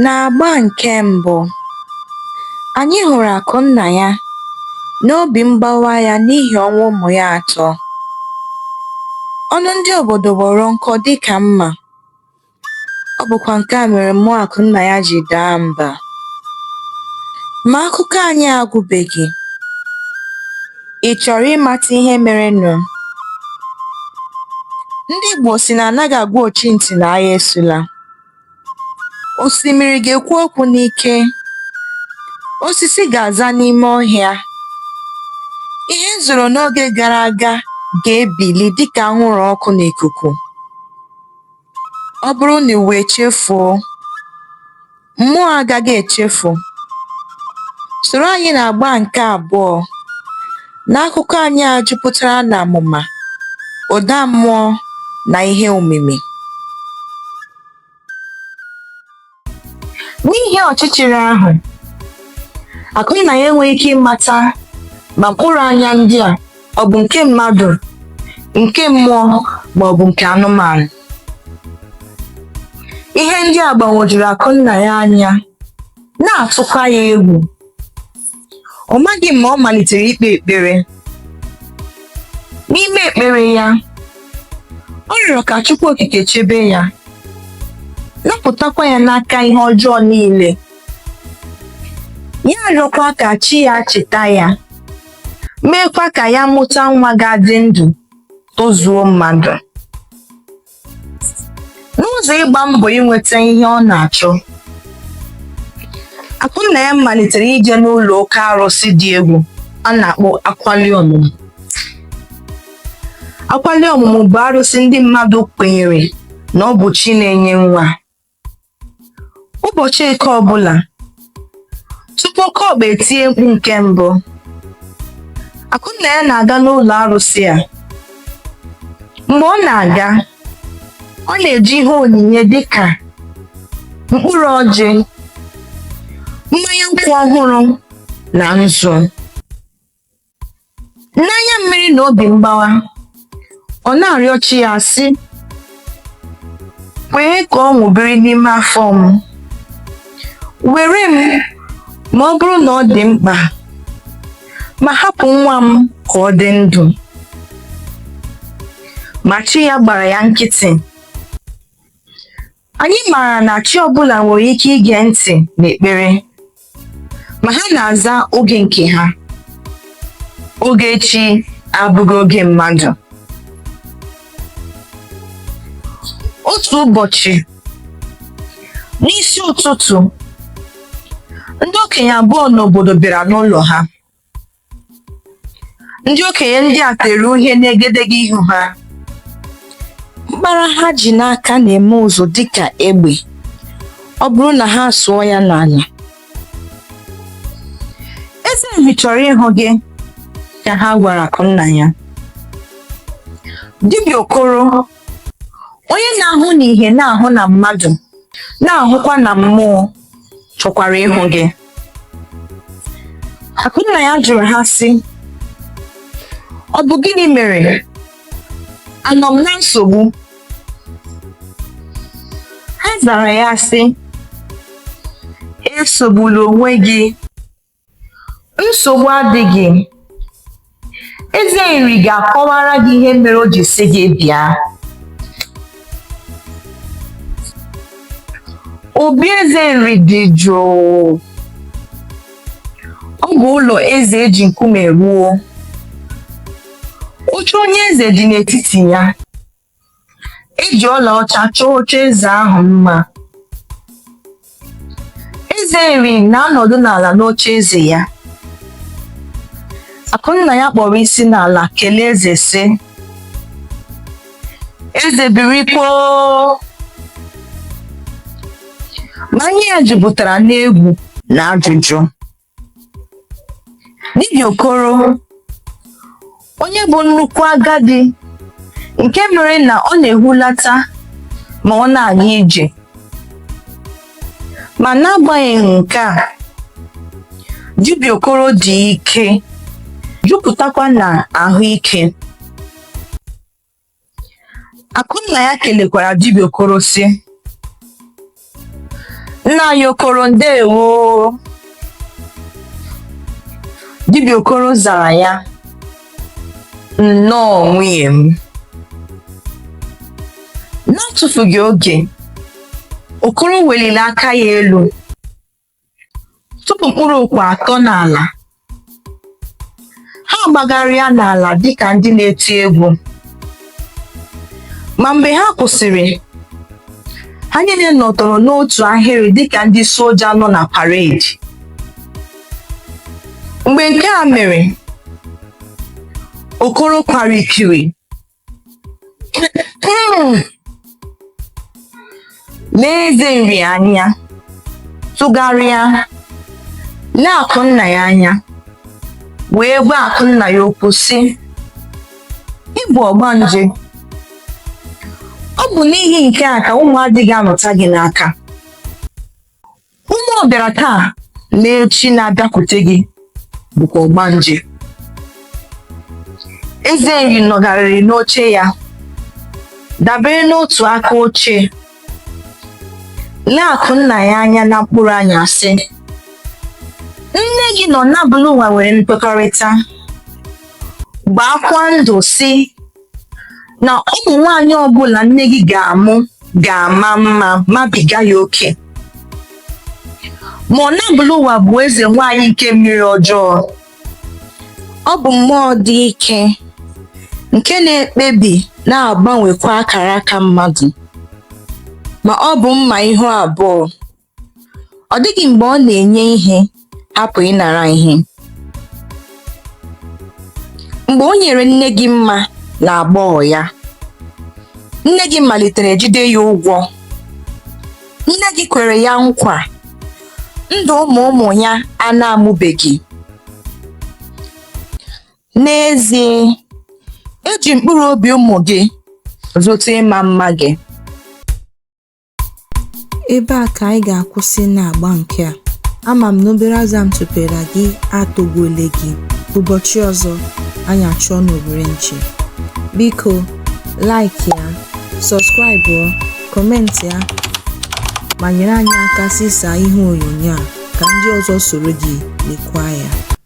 N'agba nke mbụ, anyị hụrụ Akụnna ya n'obi mgbawa ya n'ihi ọnwụ ụmụ ya atọ. Ọnụ ndị obodo kpọrọ nkọ dịka mma. Ọ bụkwa nke a mere mmụọ Akụnna ya ji daa mba. Ma akụkọ anyị agwụbeghị. Ị chọrọ ịmata ihe merenụ? Ndị Igbo sị na anaghị agwa ochintị na agha esula. Osimiri ga-ekwu okwu n'ike. Osisi ga-aza n'ime ọhịa. Ihe zoro n'oge gara aga ga-ebili dịka anwụrụ ọkụ n'ikuku. Ọ bụrụ na ụwa echefuo, mmụọ agaghị echefu. Soro anyị n'agba nke abụọ n'akụkọ anyị a jupụtara na amụma, ụda mmụọ, na ihe omimi. N'ihi ọchịchịrị ahụ, Akụnna ya enweghị ike ịmata ma mkpụrụ anya ndị a ọ bụ nke mmadụ, nke mmụọ ma ọ bụ nke anụmanụ. Ihe ndị a gbagwojuru Akụnna ya anya, na-atụkwa ya egwu. ọ maghị ma ọ malitere ikpe ekpere n'ime ekpere ya ọ rịọrọ ka Chukwu Okike chebe ya napụtakwa ya n'aka ihe ọjọọ niile ya arịọkwa ka chi ya cheta ya meekwa ka ya mụta nwa ga-adị ndụ tozuo mmadụ n'ụzọ ịgba mbọ inweta ihe ọ na-achọ Akụnna ya malitere ije n'ụlọ oke arụsị dị egwu a na-akpọ akwali ọmụmụ akwali ọmụmụ bụ arụsị ndị mmadụ kwenyere na ọ bụ chi na-enye nwa Ụbọchị Eke ọbụla, tupu oke ọkpa etie mkpu nke mbụ, Akụnna ya na-aga n'ụlọ arụsị a. Mgbe ọ na-aga, ọ na-eji ihe onyinye dị ka mkpụrụ ọjị, mmanya nkwụ ọhụrụ na nzu. n'anya mmiri na obi mgbawa ọ na-arịọ chi ya sị kwee ka ọṅụ biri n'ime afọ m were m ma ọ bụrụ na ọ dị mkpa ma hapụ nwa m ka ọ dị ndụ ma chi ya gbara ya nkịtị Anyị maara na chi ọbụla nwere ike ige ntị n'ekpere, ma ha na-aza oge nke ha. Oge chi abụghị oge mmadụ. Otu ụbọchị, n'isi ụtụtụ, ndị okenye abụọ n'obodo bịara n'ụlọ ha. ndị okenye ndị a tere uhie n'egedege ihu ha mkpara ha ji n'aka na-eme ụzụ dịka egbe ọ bụrụ na ha sụọ ya n'ala eze nri chọrọ ịhụ gị ka ha gwara akụnnaya dibịa okoro onye na-ahụ n'ihe na-ahụ na mmadụ na-ahụkwa na mmụọ chọkwara ịhụ gị akụnnaya jụrụ ha sị ọ bụ gịnị mere anọ m na nsogbu ha zara ya sị esogbula onwe gị nsogbu adịghị eze nri ga-akọwara gị ihe mere o ji sị gị bịa obi eze nri dị jụụ ọ bụ ụlọ eze eji nkume rụọ oche onye eze dị n'etiti ya eji ọlaọcha chọọ oche eze ahụ mma eze nri na-anọdụ n'ala n'oche eze ya akụnnaya kpọrọ isi n'ala kelee eze sị eze birikwa o ma ihu ya jupụtara n'egwu na ajụjụ Dibịa Okoro onye bụ nnukwu agadi nke mere na ọ na-ehulata ma ọ na-aga ije ma n'agbanyeghị nke a dibịa Okoro dị ike jupụtakwa na ahụike Akụnnaya kelekwara dibịa Okoro sị nna anyị Okoro ndewo dibịa Okoro zara ya nnọọ nwunye m n'atụfughị oge Okoro weliri aka ya elu Tụpụ mkpụrụ okwe atọ n'ala. Ha agbagharịa n'ala dịka ndị na-eti egwu. Ma mgbe ha kwụsịrị, ha niile nọtọrọ n'otu ahịrị dịka ndị soja nọ na paredi. Mgbe nke a mere, Okoro kwara ikiri n'eze nri anya tụgharịa lee Akụnnaya anya wee gwa Akụnnaya okwu sị ị bụ ọgbanje ọ bụ n'ihi nke a ka ụmụ adịghị anọta gị n'aka Ụmụ ọ bịara taa na echi na-abịakwute gị bụkwa ọgbanje. Eze nri nọgharịrị n'oche ya dabere n'otu aka oche lee Akụnnaya anya na mkpụrụ anya sị nne gị na Ọnabụlụwa nwere nkwekọrịta gbaakwa ndụ sị na ụmụ nwaanyị ọbụla nne gị ga-amụ ga-ama mma mabiga ya oke ma Ọnabụlụwa bụ eze nwaanyị nke mmiri ọjọọ ọ bụ mmụọ dị ike nke na-ekpebi na-agbanwekwa akara aka mmadụ ma ọ bụ mma ihu abụọ Ọ dịghị mgbe ọ na-enye ihe hapụ ịnara ihe. Mgbe o nyere nne gị mma n'agbọghọ ya, nne gị malitere jide ya ụgwọ. Nne gị kwere ya nkwa ndụ ụmụ ụmụ ya a na-amụbeghị. N'ezie, e ji mkpụrụ obi ụmụ gị zụta ịma mma gị. Ebe a ka anyị ga-akwụsị n'agba nke a. Ama m na obere aza m tụpere gị atọgbuole gị. Ụbọchị ọzọ, anyị achụọ n'owere nchi. Biko, like ya, subscribe ọ, comment ya, ma nyere anyị aka zisaa ihe onyonyo a ka ndị ọzọ soro gị lekwa ya.